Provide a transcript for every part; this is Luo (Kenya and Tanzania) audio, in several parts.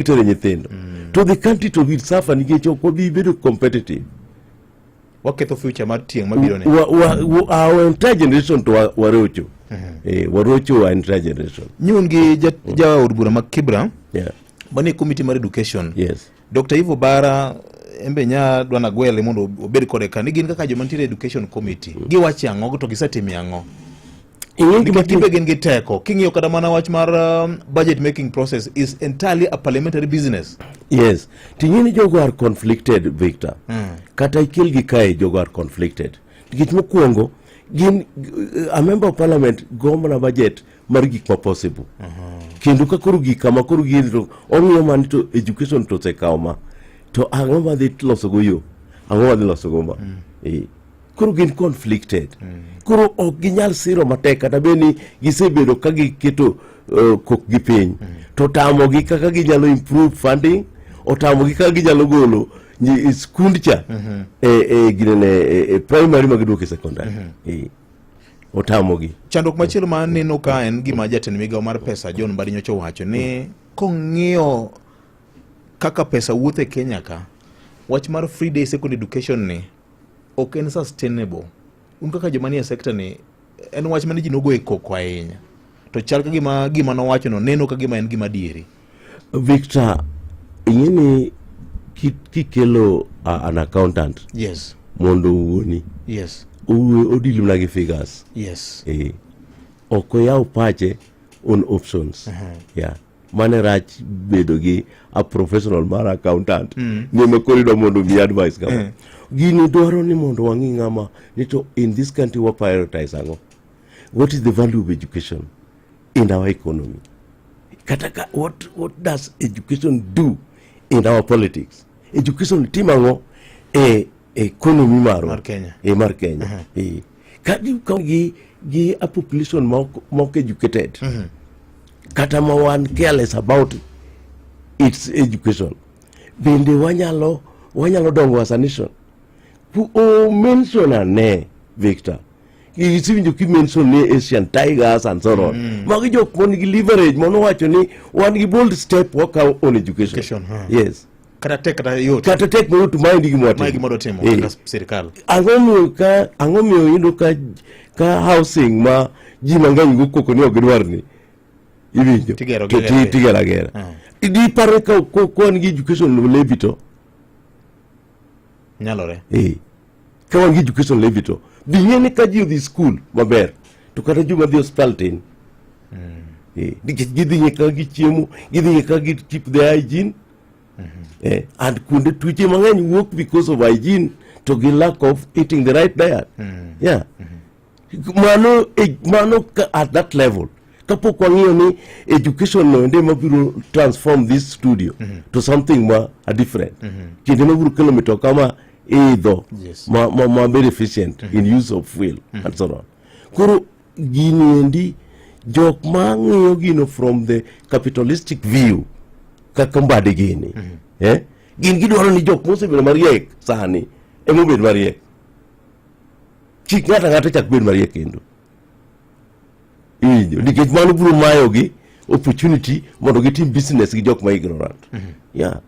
itere nyithindo mm. to the country to will suffer nikech ok wabi bedo competitive waketho future mar tieng' mabiro ne our entire generation to warocho mm -hmm. eh, warocho our entire generation nyun gi ja, mm. ja od bura ma Kibra yeah. mani committee mar education yes Dr. Ivo Bara embe nya dwana gwele mondo obed kode ka ni gin kaka joma nitiere education committee mm. giwache ang'o to gisetime ang'o nikech gimbe gin gi teko king'iyo kata mana wach mar um, budget making process is entirely a parliamentary business yes ting'e ni jogo are conflicted victor mm. kata ikel gi kae jogo are conflicted nikech mokwongo gin uh, a member of parliament gomna budget mar gik ma possible uh -huh. kendo ka koro gik kama koro gin to ong'iyo mani to education to osekawo ma to ang'o ma dhi losogo yo ang'o ma dhi losogo ma mm. e. koro gin conflicted mm. koro ok ginyal siro matek kata bed ni gisebedo ka giketo uh, kokgi piny mm. to otamogi kaka ginyalo improve funding otamogi kaka ginyalo golo skund cha mm-hmm. e, e, ginene e, e primary ma giduoke secondary mm-hmm. e, otamogi chandruok machielo ma neno ka en gima jatend migawo mar pesa john mbadi nyocha owacho ni mm. kong'iyo kaka pesa wuothe kenya ka wach mar free day second education ni ok en sustainable. Un kaka joma nie sector ni en wach mane ji nogo e koko ahinya to chal ka gima gima nowachono neno ka gima en gima dieri. Victor, ing'e ni kikelo uh, an accountant yes. mondo owuoni yes. odil mana gi figures yes. e, ok oyaw pache on options uh -huh. yeah. mane rach bedo gi a professional mar accountant mm. ni ema koro idwa mondo mi advice kama mm. gini dwaro ni mondo wang'i ng'ama ni to in this country wa prioritize ang'o what is the value of education in our economy kata ka, what, what does education do in our politics education tim ang'o e economy marwa mar kenya e mar kenya uh -huh. e. ka gi ka gi gi a population ma ok ma ok educated kata ma wan careless about its education bende wanyalo wanyalo dongo was a nation Pu- o mention ane victor isiwinjo ki mention ni asian tigers and so on magi jok mon gi leverage mono wacho ni wan gi bold step wakawo on education Education, huh. yes kata tek kata yot kata tek mayot maendi gimwadwa timo eh. kaka sirikal ang'omiyo ka ang'omiyo yudo ka ka housing ma ji mang'eny go koko ni ok gidwar ni iwinjo tigero agera ah. dipare ka kwan gi education levi to nyalore eh. ka wan gi education levi to dhi ng'e ni ka ji odhi skul maber to kata joma dhi hospital tin hmm. eh. nikech gidhi ng'e kaka gichiemo gidhi ng'e kaka gitip the hygiene mm -hmm. eh, and kuonde tuoche mang'eny wuok because of hygiene to gi lack of eating the right diet mm -hmm. yeah mm -hmm. mano e, mano at that level kapok wang'iyo ni education no ende mabiro transform this studio mm -hmm. to something ma a different mm -hmm. kinde mabiro kelo mitoka ma idho yes. ma, ma, ma very efficient mm -hmm. in use of fuel mm -hmm. and so on koro Gini endi jok ma ng'iyo gino from the capitalistic view kaka mbadi gini mm -hmm. eh? gin gidwaro ni jok mosebedo mariek sani emobed mariek chik ng'ato ang'ata chak bed mariek kendo iwinjo nikech mano biro mayogi opportunity mondo gitim business gi jok ma ignorant mm -hmm. yeah.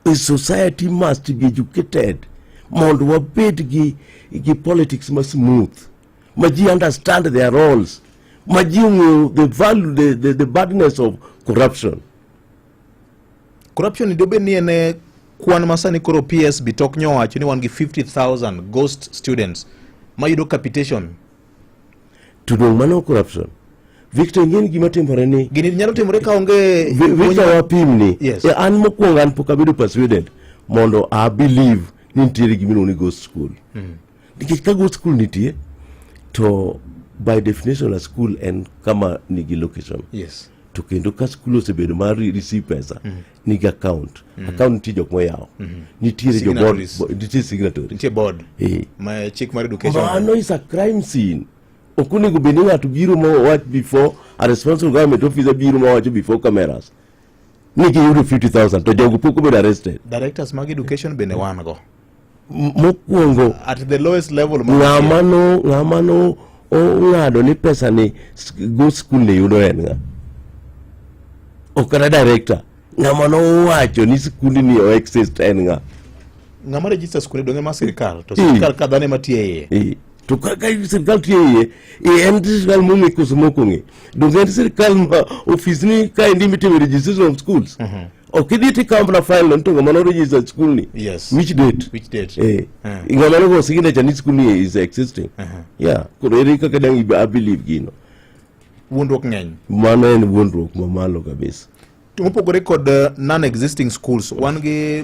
The society must be educated mondo wabed gi, gi politics ma smooth ma ji understand their roles ma ji ong'eyo the value the, the, the badness of corruption corruption dobed ni en eh, kwan ma sani koro PSB tok nyowacho ni wan gi 50000 ghost students mayudo capitation to dong' mano corruption Victor ing'eni gima timore ni gini nyalo timore ka onge Victor wapim ni yes. an mokwongo an pok abedo persuaded mondo a believe ni nitiere gima iluongo ni ghost school hmm. nikech ka ghost school nitie to by definition a school en kama nigi location yes. to kendo ka school osebedo mar receive pesa mm. nigi account mm. account nitie jok moyawo mm -hmm. nitiere jo board nitie signatory nitie board eh ma chik mar education mano is a crime scene ok onego bed ni ng'ato biro ma owach before a responsible government officer biro ma owacho before cameras ni giyudo 50000 to jogo pok obedo arrested directors mag education bende wan go mokwongo at the lowest level ng'ama no ng'ama no ong'ado ni pesa ni go school ne yudo en ng'a ok kata director ng'ama nowacho ni sikundi ni o exist en ng'a ng'ama register skunde donge ma sirkal to sirkal ka dhano ema tiyo e iye to kaka sirkal tiyo e iye en sirkal mong'e koso mokong'e donge en sirkal ma ofis ni kaendi mitime registration of schools uh mhm. -huh. ok idhi tikawo mana file no nito ng'ama noregister school ni yes which date which date eh uh. ng'ama nogo signature ni school ni is existing uh -huh. yeah koro ere kaka dang i believe gino wuondruok ng'eny mano en wuondruok mamalo kabisa mopogore kod uh, non existing schools wan gi